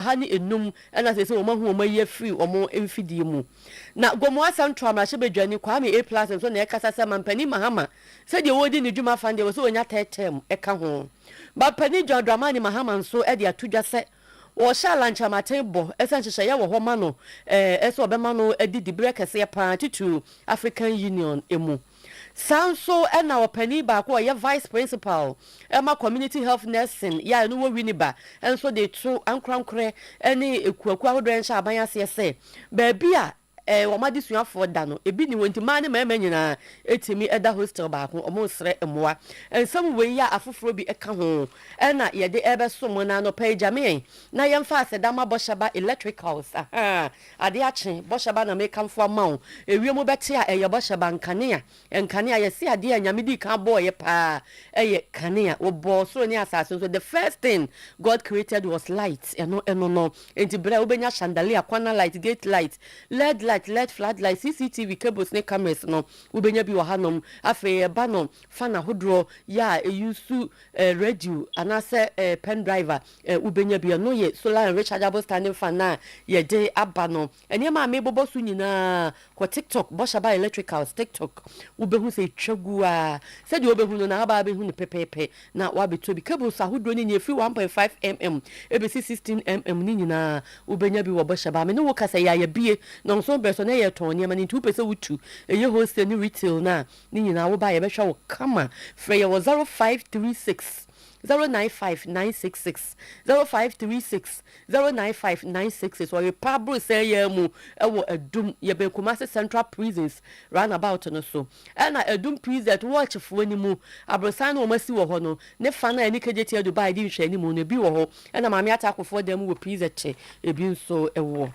ha ne nnum na seesei wɔahu wɔn ayi afiri wɔn mfidie mu. Na Gomoa Central mmarahyɛbadwani Kwame Appiah nso na ɛrekasa sɛ Mampanin Mahama sɛdeɛ ɔredi ne dwuma afa no deɛ ɛwɔ sɛ ɔnya third term ka ho. Mampanin John Dramani Mahama nso de ato dwa sɛ ɔhyɛ Alan Kyerematen bɔ sɛ nhyehyɛeɛ wɔ hɔ ma no sɛ ɔbɛma no adi diberɛ kɛseɛ pa ara titiriw African Union mu. Saa nso na ɔpanin baako a ɔyɛ Vice Principal ma Community Health Nursing yɛ a ɛno wɔ Winneba nso de reto ankorankorɛ ne akuakuo ahodoɔ nhyɛaban aseɛ sɛ baabi a wɔn adesuafoɔ da no ebi nni hɔ nti mmaa ne mmarima nyinaa tumi da hostel baako. Wɔresrɛ mmoa. Nsɛm wei a afoforɔ bi ka ho na yɛde rebɛso mo na anɔpa yi gyame yɛn na yɛmfa aseda ma Bɔhyɛba Electricals. Ahaa. Ade akye, bɔhyɛ ba na mekamfo ama wo, ewiem bɛte a ɛyɛ bɔhyɛ ba, nkanea, nkanea, yɛse adeɛ a Nyame dii kan bɔɔeɛ paa yɛ kanea, Ɔbɔɔ soro ne asase nso, the first thing God created was light, ɛno ɛno no, enti berɛ a wobɛnya chandelier, kwanna light, gate light, led light, led flood light, CCTV cables ne cameras no, wobɛnya bi wɔ hanom, afei ɛba no fan ahodoɔ, yɛ a ɛuse radio anaasɛ pen drive a, Eh, wobɛnya bi. Ɛno yɛ solar and rechargeable standing fan no a yɛde aba no. Nneɛma a mebobɔ so nyinaa, kɔ TikTok, bɔ Shaba Electricals TikTok, wobɛhu sɛ ɛtwa gu ara. Sɛdeɛ wobɛhu no na wobaa abɛhu no pɛpɛɛpɛ na woabɛtɔ bi. Cables ahodoɔ no nyinaa, ɛfiri one point five mm ɛbɛsi sixteen mm no nyinaa, wobɛnya bi wɔ bɔ Shaba. Me ne wo kasa yi a, yɛabue Nɔnson Berɛso na yɛretɔn nneɛma no, nti wopɛ sɛ wotu, ɛyɛ wholesale ne retail no a, ne nyinaa woba a yɛbɛhwɛ wo kama. Frɛ yɛn wɔ zero five three six. zero nine five nine six six zero five three six zero nine five nine six six wɔrepa aborosɛn yɛn mu wɔ adum yɛbɛn kumase central prisons roundabout no so ɛna adum prison wɔɔkyefoɔ no mu aborosɛn no wɔn asi wɔ hɔ no ne fa no a ɛne kgt adu baa ɛdi nhwɛ anim no ebi wɔ hɔ ɛna maame atakofoɔ dan mu wɔ prison kye ebi nso ɛwɔ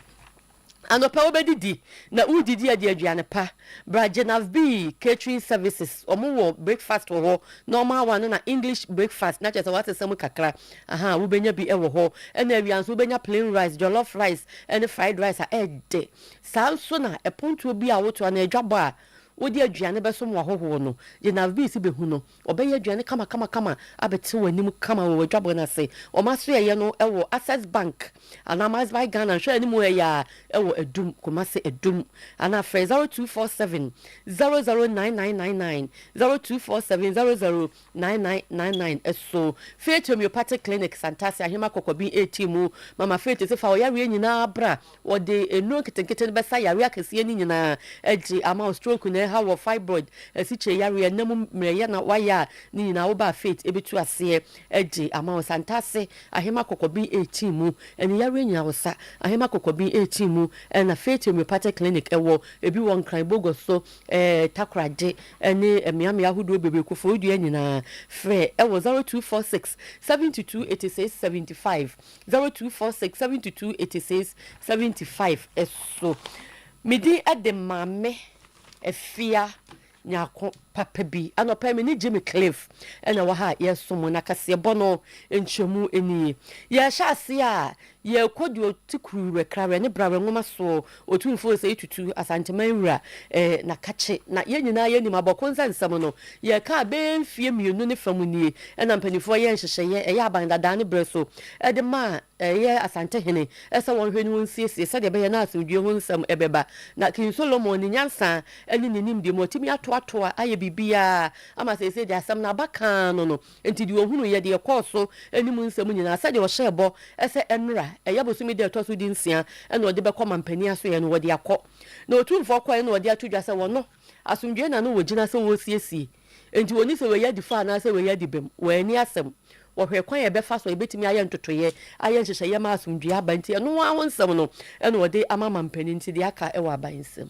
Anɔpa wobedidi na wodidi adi aduane pa. Bra Jenavb catering services wɔn wɔ breakfast wɔ hɔ na wɔn awa no na English breakfast na kyerɛ sɛ wɔasesa mu kakra ahaa wobenya bi wɔ hɔ ɛna awia nso wobenya plain rice, jollof rice ɛne fried rice a ɛɛdɛ saa nso na ɛpontuo bi a wotoa no adwabɔ a wode aduane bɛsom w'ahɔhoɔ no Jenavb si behu no. Wɔbɛyɛ aduane kamakamakama abɛte w'anim kama wɔ w'adwabɔ no ase. Wɔn asoɛeɛ no wɔ Access Bank anaa MassBuy Ghana nhwɛ anim ha yi ara wɔ Adum, Kumasi Adum. Anaa frɛ 0247 009999, 0247 009999 so. Faith Homeopathic Clinic, Santase, Ahema Kɔkɔbin reteam, Mama Faith se fa wo yareɛ nyinaa bra. Wɔde nnuro nketenkete no bɛsa yareɛ akɛseɛ no nyinaa agye ama wo, stroke na ɛha wɔ, fibroid, asikyire yareɛ, nna mu mmerɛyɛ na wayɛ a, ne nyinaa wo ba a faith bɛtu aseɛ agye ama wo. Santase ahema kɔkɔben rekyee mu, ɛne yareɛ nyinaa wo sa ahema kɔkɔben rekyee mu na faith homeopathic clinic wɔ, ɛbi wɔ nkran bogo so, takoradi ne mmeammea ahodoɔ bebree, koforidua nyinaa. Frɛ wɔ 0246 7286 75 Zero two four six seventy two eighty six seventy five so me din de Maame Afia Nyarko papa bi anɔpa me ne Jimmy Cliff ɛna wɔ ha a yɛresom na kaseɛbɔ no nkyerɛmu nie yɛhyɛ ase a yɛrekɔ deɛ ɔte kuru werɛkra werɛ ne bra werɛ nwoma soɔ Otumfoɔ Osei Tutu, Asanteman wura, eh, na kakye na yɛn nyinaa yɛnim abɔko nsɛ nsɛm no. Yɛreka a, bɛyɛ mfeɛ mmienu ne fa mu nie na mpanimfoɔ yɛɛ nhyehyɛeɛ, ɛyɛ aban dadaa ne berɛ so, de maa ɛyɛ Asantehene sɛ wɔnhwɛ ne wɔnsiesie sɛdeɛ ɛbɛyɛ na asomdwoeɛ ho nsɛm bɛba. Na King Solomon, ne nyansa ne ne nimdeɛ mu, watumi atoatoa ayɛ biribiara ama seesei deɛ asɛm no aba kaa no no, Enti deɛ ɔhunuiɛ, deɛ ɛkɔɔ so ne mu nsɛm nyinaa, sɛdeɛ ɔhyɛɛ bɔ sɛ ɛmmra, ɛyɛ bosome da a ɛtɔ so dunsia na ɔde bɛkɔ mampanin asoeɛ no, wɔde akɔ. Na Otumfoɔ kɔeɛ na ɔde ato dwa sɛ wɔno, asomdwoeɛ na na wɔgyina sɛ wɔresiesie. Enti wɔnni sɛ wei adi fɔ anaasɛ wei adi bem. Wɔanni asɛm. Wɔhwɛɛ kwan a ɛbɛfa so a ɛbɛtumi ayɛ ntotoeɛ, ayɛ nhyehyɛeɛ ma asomdwoeɛ aba. Enti ɛno ara ho nsɛm no na ɔde ama mampanin nti deɛ aka wɔ aban nsam.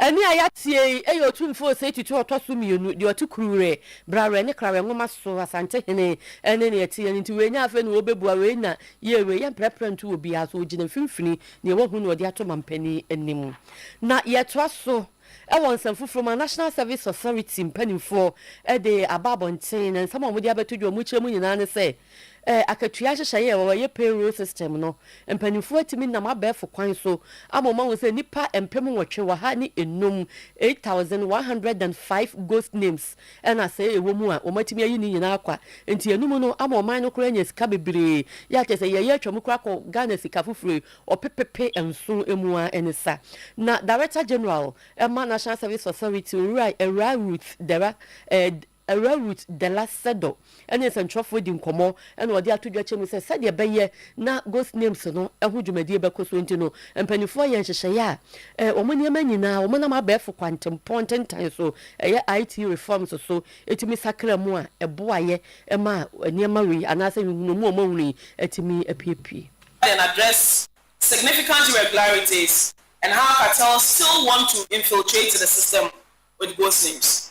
Ɛnne a yɛatie yi yɛ Otumfoɔ Osei Tutu a ɔtɔ so mmienu deɛ ɔte Kuruwerɛ, Brawerɛ ne Krawerɛ Nwoma so, Asantehene, ɛnne na yɛteɛ no nti wei nyɛ afei na wɔbɛbua wei na yei wei, yɛmprɛprɛ nto obiara so, ɔgyina mfimfini, deɛ wahu na ɔde ato mampanin anim. Na yɛtoa so wɔ nsɛm foforɔ mu a National Service Authority mpanimfoɔ de aba abɔnten, na nsɛm a wɔde abɛto dwa, wɔkyerɛ mu nyinaa ne sɛ, Ɛ, akatua nhyehyɛe a wɔyɛ payroll system no, mpanyimfo atumi nam abɛɛfo kwan so ama wɔahu sɛ nnipa mpem nwɔtwe ɔha ne nnum, 8,105 ghost names, na sɛɛ ɛwɔ mu a, wɔatumi ayi ne nyinaa kwa. Enti ɛnum no ama ɔman no koraa anya sika bebree. Yɛ a kyerɛ sɛ yɛyɛ atwam koraa kɔ Ghana sika foforo yi ɔpepepe nson mu ara ne sa. Na Director General ma National Service Authority, Owura Awuraa Ruth Derra, ɛ, Awuraa Ruth Della Sedo ne nsɛnkyerɛfoɔ adi nkɔmmɔ na wɔde ato dwa kyɛ mu sɛ sɛdeɛ ɛbɛyɛ na Ghost Names no ho dwumadie bɛkɔ so nti no, mpanimfoɔ ayɛ nhyehyɛeɛ a wɔn nneɛma nyinaa wɔnam abɛɛfo kwantempɔn ntentan so, ɛyɛ IT reforms so, tumi sakra mu a ɛboaeɛ ma nneɛma wei anaasɛ nhunumu a wɔahunu yi atumi apuepue. and address significant irregularities and how cartels still want to infiltrate the system with Ghost Names.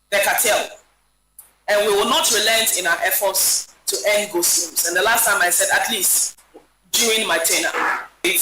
Decatel, and we will not relent in our efforts to end ghost rooms and the last time I said at least during my tenure.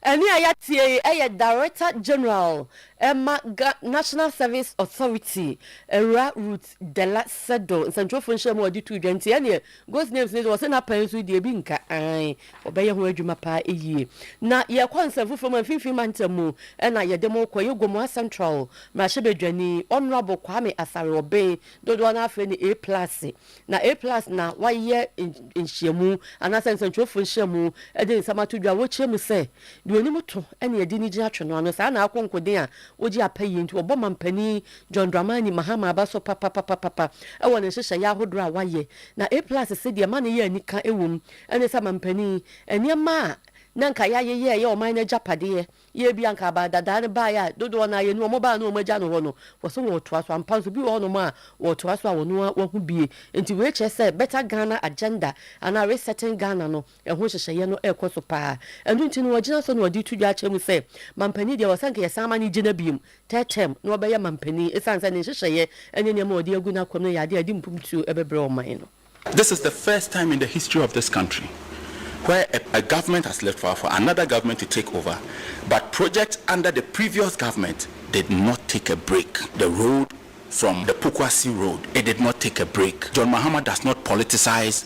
Ɛnne a yɛatie yi yɛ Director General ma Ga National Service Authority, Awuraa Ruth Della Sedo, nsɛntwerɛfoɔ nhyiamu a ɔde too dwa nti ɛnneɛ Ghost names no de, wɔse na pɛn nso deɛ bi nka ae, wɔbɛyɛ ho adwuma paa yie. Na yɛrekɔ nsɛm foforɔ mu, mfimfini mantam mu na yɛde mo rekɔ, ɛyɛ Gomoa Central mmarahyɛbadwani Honourable Kwame Asare-Obeng, dodoɔ no ara frɛ no A Plus, na A Plus na wayɛ nhyiamu anaasɛ nsɛntwerɛfoɔ nhyiamu de nsɛm ato dwa a wɔkyerɛ mu sɛ deɛ ɔnim to na ɛde no gyina twe no ano, saa na akonkoden a ɔgye apɛ yie nti ɔbɔ mampanin John Dramani Mahama aba so papapapapa wɔ ne nhyehyɛeɛ ahodoɔ a wayɛ, na A plus se deɛ ɛma no yɛ anika wɔ mu ne sɛ mampanin, nneɛma a na anka yɛayeyɛ ɛyɛ ɔman no agyapadeɛ, yɛ bi a anka aba dadaa no baeɛ a dodoɔ no ara yɛn no wɔn baa no wɔn agya no hɔ no, wɔse wɔretoa so, ampa nso bi wɔ hɔnom a wɔretoa so a wɔn ara wɔahu bie. Nti wei kyerɛ sɛ Better Ghana Agenda anaa Resetting Ghana no, Ɛho nhyehyɛeɛ no rekɔ so pa ara. Ɛno nti no, wɔagyina so na wɔde reto dwa akyerɛ mu sɛ, Mampanin deɛ, wɔsɛ anka yɛsan ma no gyina bio, third term, na ɔbɛyɛ Mampanin, ɛsiane sɛ ne nhyehyɛeɛ ne nneɛma a ɔde agu n'akwan mu no yɛ adeɛ a ɛde mfomtuo bɛbrɛ ɔman no. This is the first time in the history of this country where a a government has left for for another government to take over but projects under the previous government did not take a break the road from the Pokuase road it did not take a break John Mahama does not politicize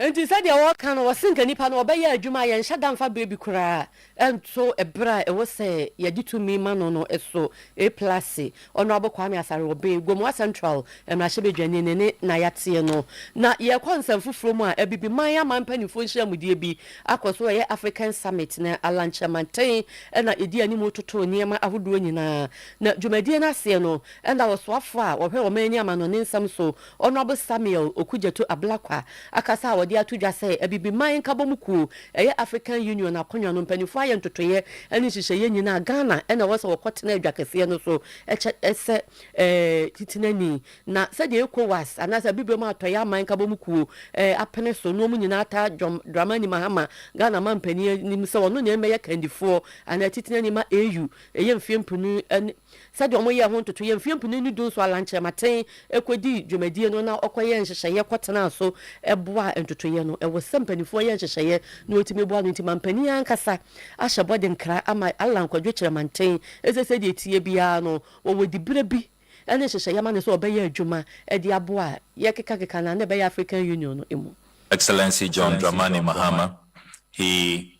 Enti sɛdeɛ wɔka no, wɔse nka nnipa no wɔbɛyɛ adwuma a yɛnhyɛ da mfa berɛ bi koraa nto berɛ a ɛwɔ sɛ yɛde tumi ma no no so. Eplase, Honourable Kwame Asare-Obey, Gomoa Central mmarahyɛbadwani ne ne na yɛateɛ no. Na yɛrekɔ nsɛm foforɔ mu a, Abibiman aman mpanimfoɔ nhyiamudeɛ bi akɔ so, ɛyɛ African Summit, na Alankyɛ manten na ɛdi anim retoto nneɛma ahodoɔ nyinaa. Na dwumadie no aseɛ no, na ɔsoafoɔ a ɔhwɛ ɔman ani amanɔne nsɛm so Honourable Samuel Okudzeto Ablakwa akasa a wɔde ato dwa sɛ Abibiman Nkabɔmu Kuo ɛyɛ African Union akonnwa no mpaninfoɔ ayɛ ntotoeɛ ɛne nhyehyɛeɛ nyina a Ghana ɛna ɛwɔ sɛ wɔkɔ tena adwa kɛseɛ no so kyɛ sɛ titenani na sɛdeɛ Ecowas anaasɛ Abibirem Atɔeɛ Aman Nkabɔmu Kuo apene so no wɔn nyinaa ataa John Dramani Mahama Ghana mampanin anim sɛ ɔno na ɛmmɛyɛ kandifoɔ anaa titenani ma AU ɛyɛ mfeɛ mpenu ne Sɛdeɛ wɔyɛɛ ho ntotoeɛ mfeɛ mpenu ne du nso a Lankyɛmaten kɔdii dwumadie no na ɔkɔyɛɛ nhyehyɛeɛ kɔtenaa so boaa ntotoeɛ no. Ɛwɔ sɛ mpanimfoɔ yɛ nhyehyɛeɛ na wɔtumi boa no nti mampanin ankasa ahyɛ bɔ de nkra ama Allan Kwadwo Kyerɛmanten sɛ sɛdeɛ ɛteɛ biara no wɔwɔ diberɛ bi ne nhyehyɛeɛ ma no sɛ ɔbɛyɛ adwuma de aboa a yɛrekekakeka no a na ɛbɛyɛ African Union no mu. Excellency John Dramani Mahama, he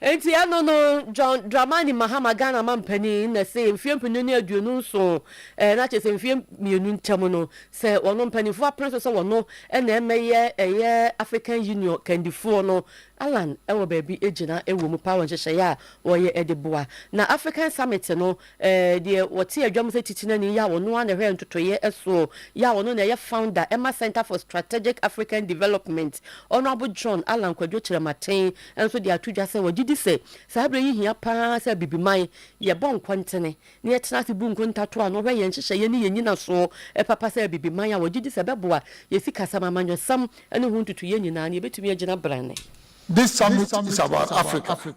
Enti ɛno no John Dramani Mahama Ghana Mampanin na see mfeɛ mpenu ne aduonu nson ɛɛ na kyerɛ sɛ mfeɛ mmienu ntam no sɛ wɔn mpaninfoɔ apene so sɛ wɔn na ɛmɛyɛ ɛyɛ African Union kandifoɔ no Allan ɛwɔ baabi ɛgyina ɛwɔ mu paa wɔ nhyehyɛeɛ a wɔyɛ ɛde boa na African Summit no Eh, deɛ ɔte adwa mu sɛ titenani yi a ɔno ara na ɛhwɛ ntotoeɛ soɔ yi a ɔno na ɛyɛ founder ɛma Centre for Strategic African Development, Honourable John Allan Kwadwo Kyerematen nso de ato dwa sɛ ɔgye di sɛ saa berɛ yi hia pa ara sɛ Abibiman yɛbɔ nkɔntene na yɛtena ase bu nkontatoɔ ano hwɛ yɛn nhyehyɛeɛ ne yɛn nnyinasoɔ papa sɛ Abibiman a ɔgye di sɛ ɛbɛboa yɛn sikasɛm, amanyɔsɛm ne ho ntotoeɛ nyinaa na yɛbɛtumi agyina branne. This summit is about Africa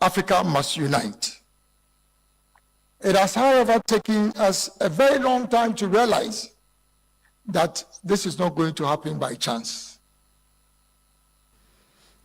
Africa must unite. It has, however, taken us a very long time to realize that this is not going to happen by chance.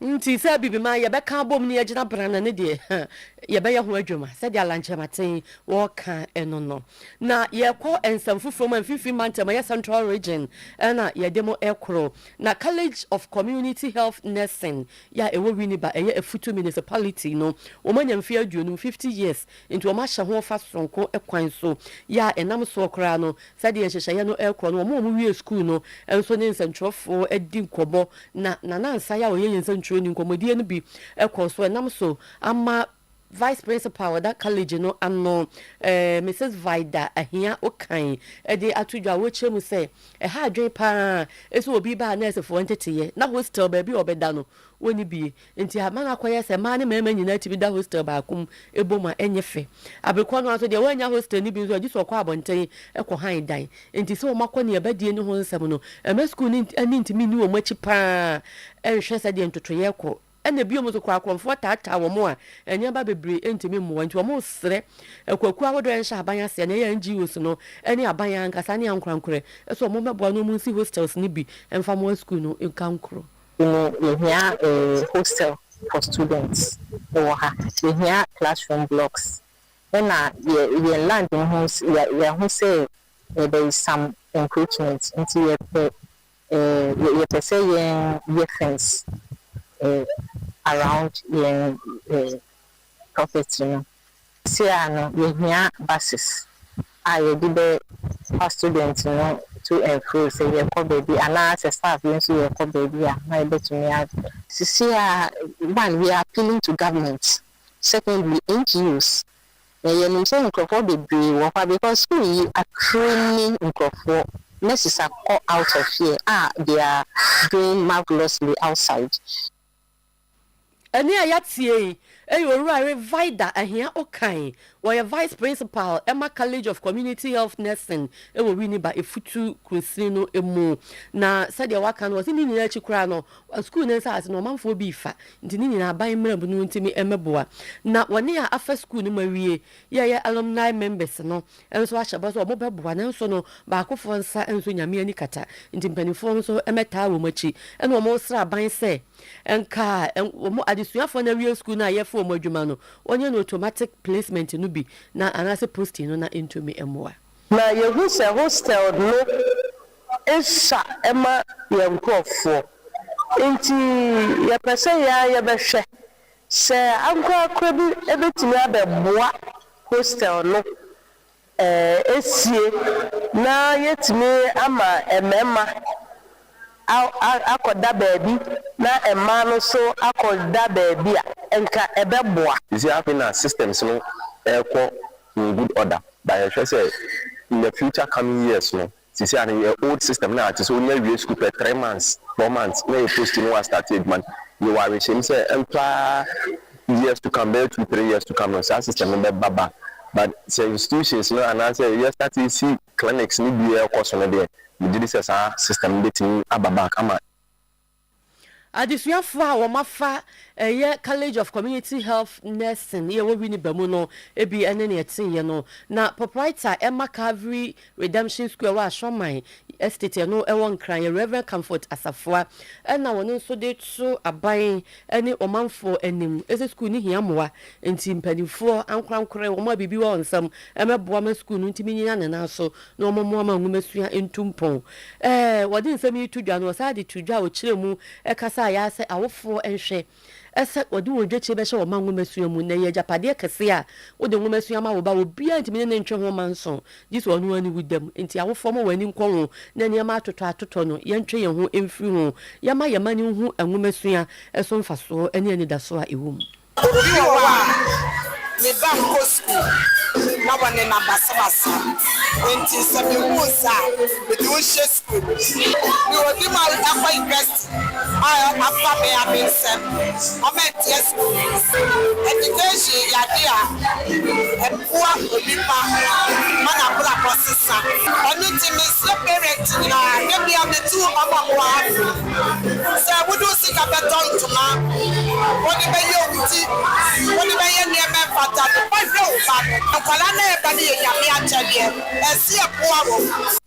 Nti sɛ biribi ma yɛbɛka abom ne yɛgyina brana ne deɛ, ha, yɛbɛyɛ ho adwuma, sɛdeɛ Alankyɛmaten wɔka ɛno no. Na yɛkɔ nsɛm foforɔ mu a mfimfini mantam ɛyɛ Central Region ɛna yɛde mo ɛkoro. Na College of Community Health Nursing yɛ a ɛwɔ Winneba, ɛyɛ Afutu Municipality no, wɔanya mfeɛ aduonum, 50 years, nti wɔahyɛ ho fa soronko kwan so, yɛ a ɛnam soɔ koraa no, sɛdeɛ nhyehyɛeɛ no rekɔ no, wɔn a wɔwiee sukuu no nso ne nsɛntwerɛfoɔ adi nkɔmmɔ, na Nana Ansah a ɔyɛ yɛn nsɛntwerɛni, nkɔmmɔdie no bi kɔɔ so, ɛnam so ama. Vice Principal a ɔda College no ano, Misus Vida Ahia Okan de ato dwa a ɔrekyerɛ mu sɛ, Ɛha adwene pa ara sɛ obi ba a nɛɛsefoɔ nteteeɛ na hostel baabi a ɔbɛda no, wɔnni bi. Enti ama no akɔyɛ sɛ mmaa ne mmarima nyinaa tumi da hostel baako mu bom a, ɛnyɛ fɛ. Bere korɔ no ara nso, deɛ wannya hostel no bi nso a, gye sɛ ɔkɔ abɔnten kɔhan dan. Enti sɛ wɔakɔ ne ɛba die no ho nsɛm no, mma sukuu no ani ntumi nni wɔn akyi pa ara nhwɛ sɛdeɛ ntotoeɛ rekɔ. Ɛna bio nso kora akorɔmfoɔ taataa wɔn a nneɛma bebree ntumi mmoa nti wɔresrɛ akuakuo ahodoɔ a ɛnhyɛ aban aseɛ na ɛyɛ NGOs no ne aban ankasa ne ankorankorɛ sɛ wɔmmɛboa na wɔnsi hostels no bi mfa mmoa sukuu no nkankuro. Nti no yɛhia hostel for students wɔ ha, yɛhia classroom blocks ɛna yɛn land no ho yɛahu sɛ there is some encroachment nti yɛpɛ Eh yɛ pɛ sɛ yɛn yɛ fence eh around yɛn eh property no se a no yɛ hia buses a yɛ de bɛ fa student no to and fro sɛ yɛ kɔ baabi anaa sɛ staff bi nso yɛ kɔ baabi a na yɛ bɛ tumi a. Sesei a one we are appealing to government secondly NGOs. Na yɛnim sɛ nkurɔfoɔ bebree wɔ hɔ a because school yi akere ni nkurɔfoɔ nurses akɔ out of here a they are doing marvelously outside. Ɛnne a yɛatie yi yɛ Owura Rivaida Ahiah Okai, ɔyɛ Vice Principal ma College of Community Health Nursing wɔ Winneba, Efutu Kunsini no mu. Na sɛdeɛ waka no, ɔse ne nyinaa akyi koraa no, Wɔ sukuu no nsase no ɔmanfoɔ bi refa, nti ne nyinaa aban mmarabu no ntumi mmɛboa. Na wɔne a afa sukuu no mu awie yɛyɛ alumni members no nso ahyɛ bɔ sɛ wɔbɛboa, nanso no baakofoɔ nsa nso Nyame ani kata, nti mpaninfoɔ nso mmɛtaa wɔn akyi na wɔresrɛ aban sɛ nka wɔn adesuafoɔ no awie sukuu no a yɛfa wɔn adwuma no wɔnyɛ no automatic placement no bi na anaasɛ posting no na ɛntumi mmoa. Na yɛhu sɛ hostel no sua ma yɛn nkorɔfoɔ, nti yɛpɛ sɛ yɛn ara yɛbɛhwɛ sɛ ankorakora bi bɛtumi abɛboa hostel no asie na yɛatumi ama mmarima akɔda baabi na mmaa no nso akɔda baabi a, nka ɛbɛboa. Nti afei na systems no rekɔ in good order but yɛhwɛ sɛ in the future coming years no sesei ano yɛ old system na tesɛ onya wie school pɛ three months four months na yɛ post no wa start adwuma no yɛwɔ awehyɛm sɛ ɛmfa years to come bɛyɛ two three years to come no saa system no bɛba ba but sɛ institutions no anaasɛ yɛ start si clinics no bi ɛkɔso no deɛ megyedi sɛ saa system no bɛtumi aba back ama Adesuafo a wɔafa ɛyɛ College of Community Health Nursing a ɛwɔ Winneba mu no bi ne nea ɛteeɛ no. Na proprietor ɛma Calvary Redemption School a ɛwɔ Ashroman Estate a ɛno wɔ Nkran yɛ Rev. Comfort Asafua na ɔno nso de to aban ne ɔmanfoɔ anim sɛ sukuu no hia mmoa nti mpanimfoɔ ankorankore wɔn a biribi wɔ wɔn nsam mmɛboa ma sukuu no ntumi nnyina ne nan so na wɔmmoa ma nwomasua ntu mpɔn. Ɛɛ, wɔde nsɛm yi to dwa no, wɔsan de to dwa a wɔkyerɛ mu kasa a ɛyɛ sɛ awofoɔ nhwɛ sɛ wɔde wɔn dwakyire bɛhyɛ wɔn mma nwomasua mu. Na ɛyɛ agyapadeɛ kɛseɛ a wode nwomasua ma wo ba a obiara ntumi ne no ntwe ho mma nso, gye sɛ ɔno ara ne wo dam. Enti awofoɔ, momma wɔn ani nkɔ ho, na nneɛma atotɔatotɔ no, yɛntwe yɛn ho mfiri ho. Yɛmma yɛn mma no nhu nwomasua so mfasoɔ ne anidasoɔ a ɛwɔ mu. Obi wɔ hɔ a ne ba nkɔ sukuu na wɔnenam basabasa, enti sɛ mihu wo saa a, mede wo hyɛ sukuu no mu. Mewɔ bi mu akɔ yunivɛsiti a afa me ara me nsam ma manteɛ sukuu no mu. Ɛdikehyin yɛ ade a ɛboa onipa ma n'abrabɔ sesa. Ɛno nti, mesrɛ parent nyinaa, da biara metu wɔn a wɔwɔ ha no Sɛ wode wo sika bɛtɔ ntoma, wode bɛyɛ wo ti, wode bɛyɛ nneɛma ɛfata de bɛhwɛ wo ba no. Nkwadaa no reba no yɛ Nyame akyɛdeɛ, ɛse yɛboa wɔn.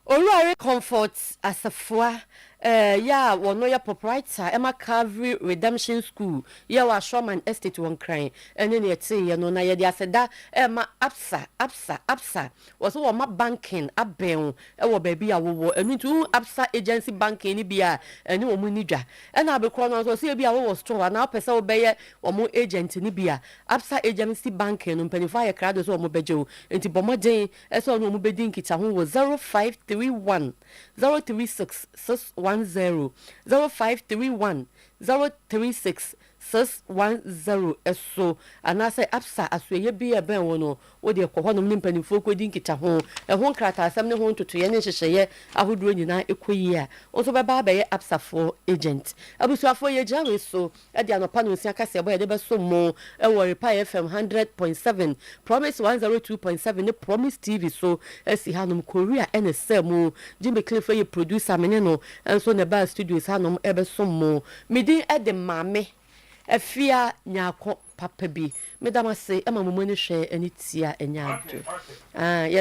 Owurare Comfort Asafua yɛ a wɔno yɛ proprietor ɛma Calvary Redemption School yɛ wɔ Ashroman Estate wɔ Nkran ɛne nea ɛteeɛ no na yɛde aseda ɛma Absa Absa Absa Wɔse wɔma banking abɛn wo wɔ baabi a wowɔ. Ɛno nti wohu Absa Agency Banking no bi a, ɛne wɔn nni dwa. Ɛna abe korɔ no ara nso, sɛ ebia wowɔ store anaa wopɛ sɛ wobɛyɛ wɔn agent no bi a, Absa Agency Banking no mpanyinfoɔ ayɛ krado sɛ wɔbɛgye wo. Enti bɔ mmɔden sɛ wo ne wɔn bɛdi nkitaho wɔ zero five three one zero three six six one zero, zero five three one zero three six Sis one zero so anaasɛ Absa asoɛeɛ bi a ɛbɛn wo no, wo deɛ kɔ hɔnom ne mpanimfoɔ kɔdi nkitaho. Ɛho nkrataasɛm ne ho ntotoeɛ ne nhyehyɛeɛ ahodoɔ nyinaa kɔ yie a, wo nso wobɛba abɛyɛ Absafoɔ agent. Abusuafoɔ, yɛgyina wei so de anɔpa nonsia kaseɛbɔ a yɛde bɛsom mo wɔ Repair FM hundred point seven, Promise one zero two point seven ne Promise TV so asi hanom. Korea na ɛsaa mu. Jimmy Cliff yɛ producer, me ne no nso na ɛbaa studios hanom rebɛsom mo. Me din de Maame Afia Nyarko papa bi. Meda mo ase ma mo mu ani hwɛ ne tia nyɛ ade.